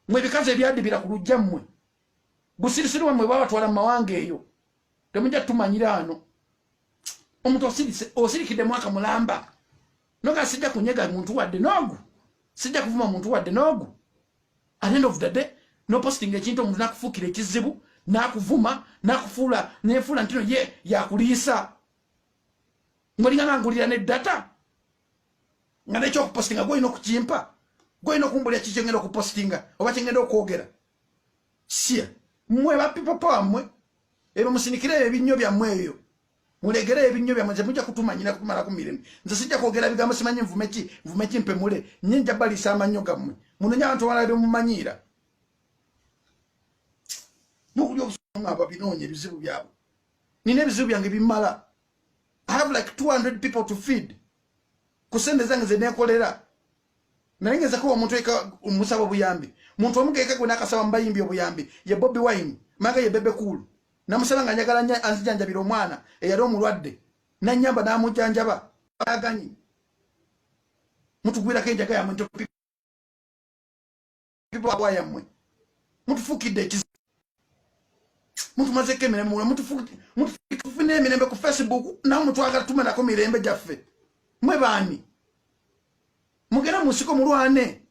mwe bikazi ebyadibira ku lujja mmwe busirisiru wamwe bwabatwala mu mawanga eyo temujja tumanyira ano omuntu osirise osirikidde mwaka mulamba noga sijja kunyega muntu wadde noogu sijja kuvuma muntu wadde noogu at end of the day noposting ekintu omuntu nakufuukira ekizibu nakuvuma nakufuula nefuula ntino ye yakuliisa ngolinga nangulira ne data nga nekyokupostinga gwolina okukimpa gwolina okumbulira ki kyengenda okupostinga oba kyengenda okwogera sia mwe ba people power mwe ebyo musinikire ebyo ebinnyo byammwe ebyo mulegere ebinnyo byammwe nze mujja kutumanyira kutumalaku mirembe nze sijja kwogera bigambo simanyi nvume ki nvume ki mpemule nye nja balisa amannyo gammwe munonya abantu balala byemumanyiira mukulya obusunga ababinoonya ebizibu byabwe nina ebizibu byange bimala I have like 200 people to feed kusende zange zenekolera naye ngezako omuntu eka omusaba obuyambi muntu omu kekagwe nakasaba mubayimbi obuyambi ye bobi wine manga ye bebe cool namusaba nga njagala nya anzijanjabira omwana eyali omulwadde nanyamba namujanjaba aganyi mutugwirako enjaga yamwe people abwa yamwe mutufukide ekizi mutu mazeke emirembe mwe mutufukide mutufune emirembe ku facebook nawe mutwagala tumenako mirembe gyaffe mwe baani mugenda mu nsiko mulwane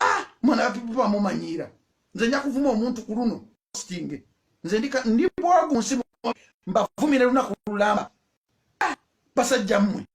ah mwana wa people bamumanyiira nze nja kuvuma omuntu ku luno stinge nze ndika ndi bwagu nsi mbavumire lunaku lulamba ah basajja mmwe